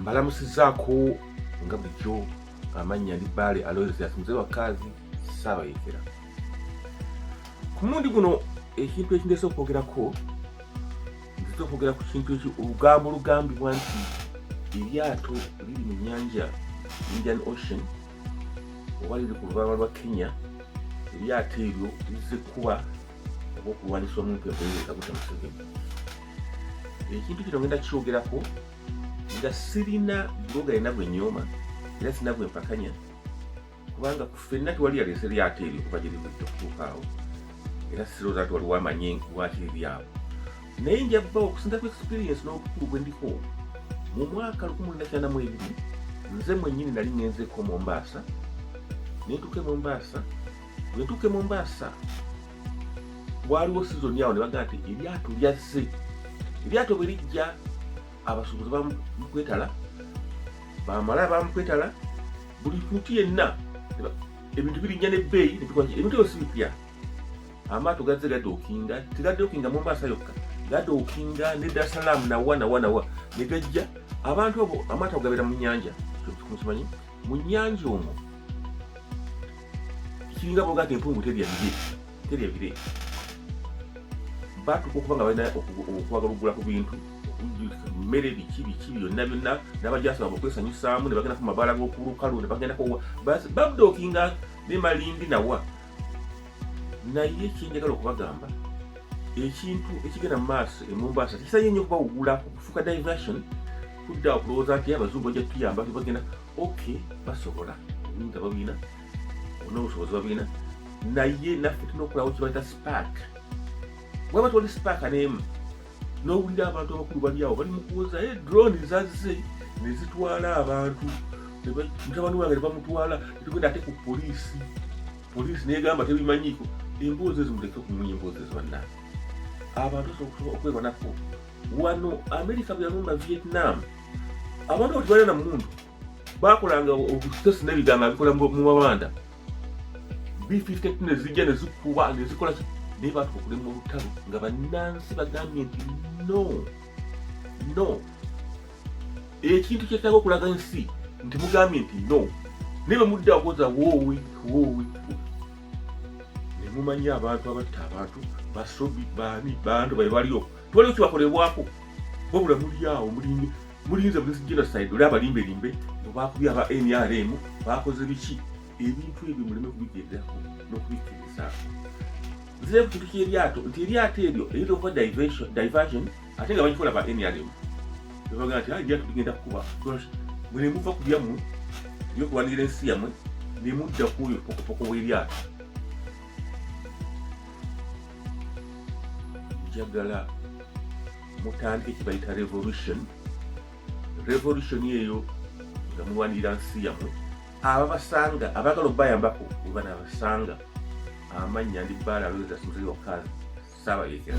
mbalamusizaako nga bulijjo amannya ndi baale aloysias muzee wa kaazi saabayekera ku mundi guno ekintu ekindesa okwogerako nziza okwogera ku kintu eki olugambo olugambibwa nti eryato liri mu nyanja indian ocean oba liri ku lubalama lwa kenya eryato eryo lizze kuba ogw'okulwanyisa omuntu ekulowooza gute museveni ekintu kino ngenda kyogerako nga sirina bloga yena gwe nyooma era sirina gwe mpakanya kubanga ku fenna tewali yaleese lyato eryo kuva gye livudde okutuukaawo era sirooza nti waliwo amanyi lwaki liri awo naye nja bba okusinza ku experience n'obukulu bwe ndiko mu mwaka lukumi luna kyana mu ebiri nze mwennyini nali ngenzeeko mu mbaasa nentuke mu mbaasa Natuuka e Mombasa, waaliwo sizoni awo ne bagamba nti eryato lyazze. Eryato bwe lijja abasuubuzi bamukwetala, bamala bamukwetala, buli muntu yenna ebintu birinnya n'ebbeeyi ebintu ebyo si bipya. Amaato gazze gadookinga, tegadookinga Mombasa yokka, gadookinga ne Dar es Salaam nawa nawa nawa ne gajja abantu abo amaato gabeera mu nnyanja, kyo kimanyi mu nnyanja omwo kiringa bogati empungu terya bire terya bire batuka okuba nga balina okwagala okugula ku bintu mmere biki biki byonna byonna n'abajasaba okwesanyusaamu ne bagenda ku mabaala g'okulukalu ne bagenda kowa babdookinga ne malindi nawa naye kyenjagala okubagamba ekintu ekigenda mu maaso emumbaasa tekisanye nnyo kubawugula okufuuka diversion kudda okulowooza nti abazungu bajja tutuyamba bagenda ok basobola nga babina nobusobozi babina naye naffe tulina okulawo kibaita spark waba toli spark nemu nowulira abantu abakulu bali awo bali mukuwoza e eh, drone zazze nezitwala abantu mutabani wange nebamutwala netugenda ate ku polisi polisi negamba tebimanyiko emboozi ezo muleke okumunya emboozi ezo bannange abantu osobola okwebanako wano amerika bwe yalumba vietnam abantu bwetubeera na mundu bakolanga obusitesi nebiganga bikola mu mabanda b52 nezijja nezikuba nezikola naye batuka okulema olutalo nga bannansi bagambye nti no no ekintu kyetaaga okulaga ensi nti mugambye nti no naye bemudda akoza woowi woowi nemumanya abantu abatta abantu basobi baani bantu bali balioko tewaliwo kibakolebwako wabula mulyawo mulinge mulinze buli genocide oli abalimba erimbe bwebakubye aba nrm bakoze biki ebintu ebyo muleme kubigenderako nokubikirizaako nzire ku kintu kyeryato nti eryato eryo eyinza okuba diversion ate nga bakikola ba nrm ebaga nti eryato ligenda kukuba mwene muva ku byammwe byokulwanirira ensi yammwe nemudda ku oyo pokopoko w'eryato njagala mutandike kibayita revolution revolution eyo nga muwanirira nsi yamwe ababasanga abagala okubayambako weba nabasanga amannya ndi bbaala aloweza suzei wakazi saabayekera